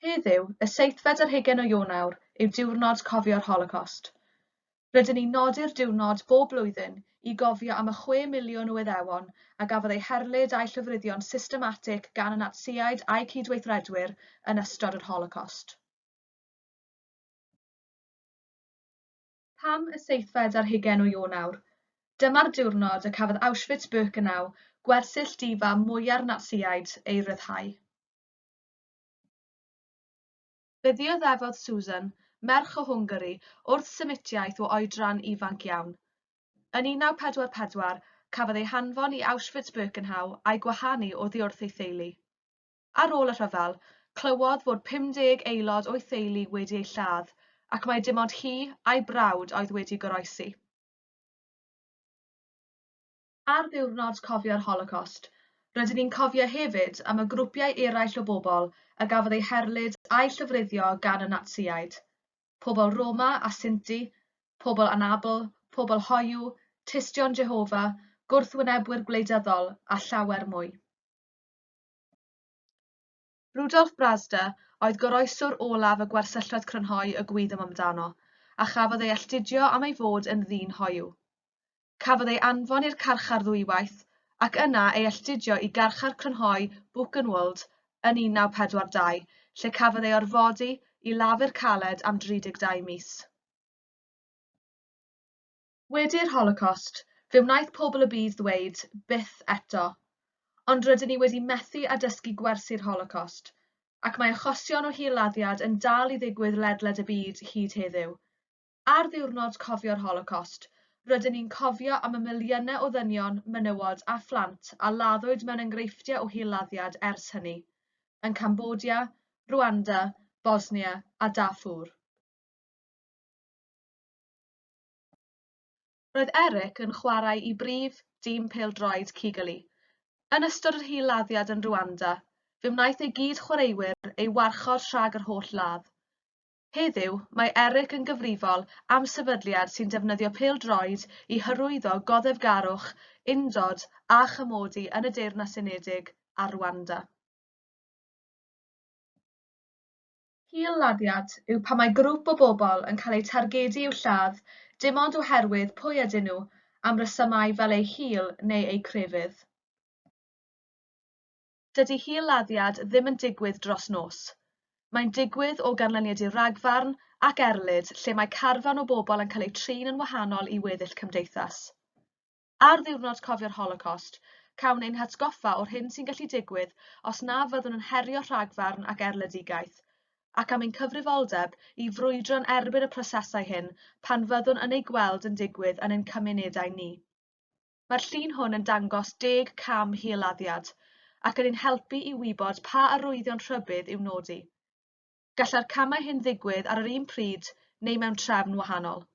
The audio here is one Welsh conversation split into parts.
Heddiw, y seithfed ar hugain o Ionawr, yw Diwrnod Cofio'r Holocost. Rydyn ni'n nodi'r diwrnod bob blwyddyn i gofio am y chwe miliwn o Iddewon a gafodd eu herlid a'u llofruddio'n systematig gan y Natsïaid a'u cydweithredwyr yn ystod yr Holocost. Pam y seithfed ar hugain o Ionawr? Dyma'r diwrnod y cafodd Auschwitz-Birkenau, gwersyll di-fam mwya'r Natsïaid, ei ryddhau. Fe ddioddefodd Susan, merch o Hwngari, wrth Semitiaeth o oedran ifanc iawn. Yn 1944, cafodd ei hanfon i Auschwitz-Birkenau a'i gwahanu oddi wrth ei theulu. Ar ôl y rhyfel, clywodd fod 50 aelod o'i theulu wedi eu lladd ac mai dim ond hi a'i brawd oedd wedi goroesi. Ar Ddiwrnod Cofio'r Holocost, rydyn ni'n cofio hefyd am y grwpiau eraill o bobl a gafodd eu herlid a'u llofruddio gan y Natsïaid, pobl Roma a Sinti, pobl anabl, pobl hoyw, tystion Jehofa, gwrthwynebwyr gwleidyddol a llawer mwy. Rudolf Brazda oedd goroeswr olaf y gwersylloedd crynhoi y gwyddom amdano, a chafodd ei alltudio am ei fod yn ddyn hoyw. Cafodd ei anfon i'r carchar ddwywaith, ac yna ei alltudio i garchar crynhoi Buchenwald yn 1942, lle cafodd ei orfodi i lafur caled am 32 mis. Wedi'r Holocost, fe wnaeth pobl y byd ddweud, Byth eto. Ond rydyn ni wedi methu â dysgu gwersi'r Holocost, ac mae achosion o hil-laddiad yn dal i ddigwydd ledled y byd hyd heddiw. Ar Ddiwrnod Cofio'r Holocost, rydyn ni'n cofio am y miliynau o ddynion, menywod a phlant a laddwyd mewn enghreifftiau o hil-laddiad ers hynny, yn Cambodia, Rwanda, Bosnia a Darfur. Roedd Eric yn chwarae i brif dîm pêl-droed Kigali. Yn ystod yr hil-laddiad yn Rwanda, fe wnaeth ei gyd-chwaraewyr ei warchod rhag yr holl ladd. Heddiw, mae Eric yn gyfrifol am sefydliad sy'n defnyddio pêl-droed i hyrwyddo goddefgarwch, undod a chymodi yn y Deyrnas Unedig a Rwanda. Hil-laddiad yw pan mae grŵp o bobl yn cael eu targedu i'w lladd dim ond oherwydd pwy ydyn nhw am resymau fel eu hil neu eu crefydd. Dydy hil-laddiad ddim yn digwydd dros nos. Mae'n digwydd o ganlyniad i ragfarn ac erlid lle mae carfan o bobl yn cael eu trin yn wahanol i weddill cymdeithas. Ar Ddiwrnod Cofio'r Holocost, cawn ein hatgoffa o'r hyn sy'n gallu digwydd os na fyddwn yn herio rhagfarn ac erledigaeth, ac am ein cyfrifoldeb i frwydro'n erbyn y prosesau hyn pan fyddwn yn eu gweld yn digwydd yn ein cymunedau ni. Mae'r llun hwn yn dangos deg cam hil-laddiad, ac yn ein helpu i wybod pa arwyddion rhybudd i'w nodi. Gallai'r camau hyn ddigwydd ar yr un pryd neu mewn trefn wahanol.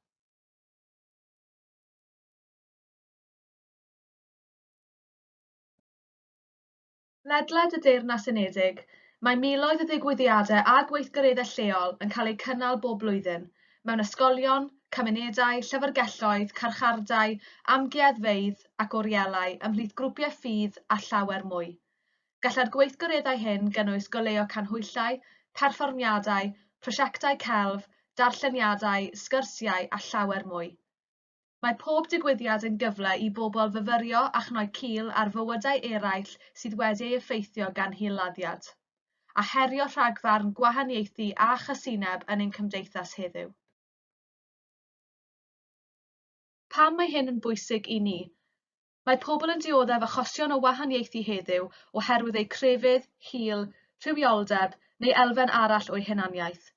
Ledled y Deyrnas Unedig, mae miloedd o ddigwyddiadau a gweithgareddau lleol yn cael eu cynnal bob blwyddyn, mewn ysgolion, cymunedau, llyfrgelloedd, carchardai, amgueddfeydd ac orielau ymhlith grwpiau ffydd a llawer mwy. Gallai'r gweithgareddau hyn gynnwys goleuo canhwyllau, perfformiadau, prosiectau celf, darlleniadau, sgyrsiau a llawer mwy. Mae pob digwyddiad yn gyfle i bobl fyfyrio a chnoi cil ar fywydau eraill sydd wedi ei effeithio gan hil-laddiad, a herio rhagfarn gwahaniaethu a chasineb yn ein cymdeithas heddiw. Pam mae hyn yn bwysig i ni? Mae pobl yn dioddef achosion o wahaniaethu heddiw oherwydd eu crefydd, hil, rhywioldeb, neu elfen arall o'u hunaniaeth.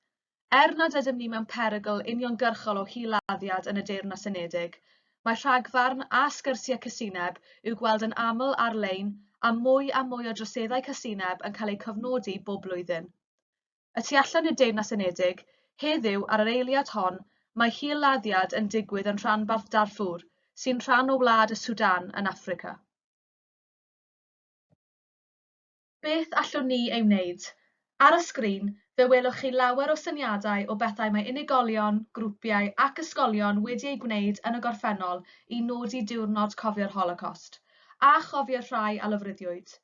Er nad ydym ni mewn perygl uniongyrchol o hil-laddiad yn y Deyrnas Unedig, mae rhagfarn a sgyrsiau casineb i'w gweld yn aml ar-lein a mwy a mwy o droseddau casineb yn cael eu cofnodi bob blwyddyn. y tu allan i'r Deyrnas Unedig, heddiw, ar yr eiliad hon, mae hil-laddiad yn digwydd yn rhanbarth Darfur, sy'n rhan o wlad y Sudan yn Affrica. Beth allwn ni ei wneud? Ar y sgrin, fe welwch chi lawer o syniadau o bethau mae unigolion, grwpiau ac ysgolion wedi eu gwneud yn y gorffennol i nodi Diwrnod Cofio'r Holocost, a chofio'r rhai a lofruddiwyd.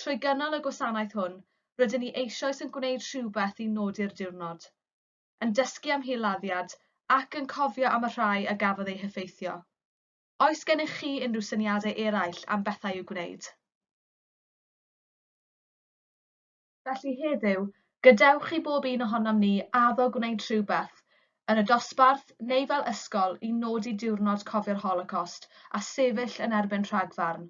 Trwy gynnal y gwasanaeth hwn, rydyn ni eisoes yn gwneud rhywbeth i nodi'r diwrnod, yn dysgu am hil-laddiad ac yn cofio am y rhai a gafodd eu heffeithio. Oes gennych chi unrhyw syniadau eraill am bethau i'w gwneud? Felly heddiw, gadewch i bob un ohonom ni addo gwneud rhywbeth, yn y dosbarth neu fel ysgol, i nodi diwrnod Cofio'r Holocost a sefyll yn erbyn rhagfarn.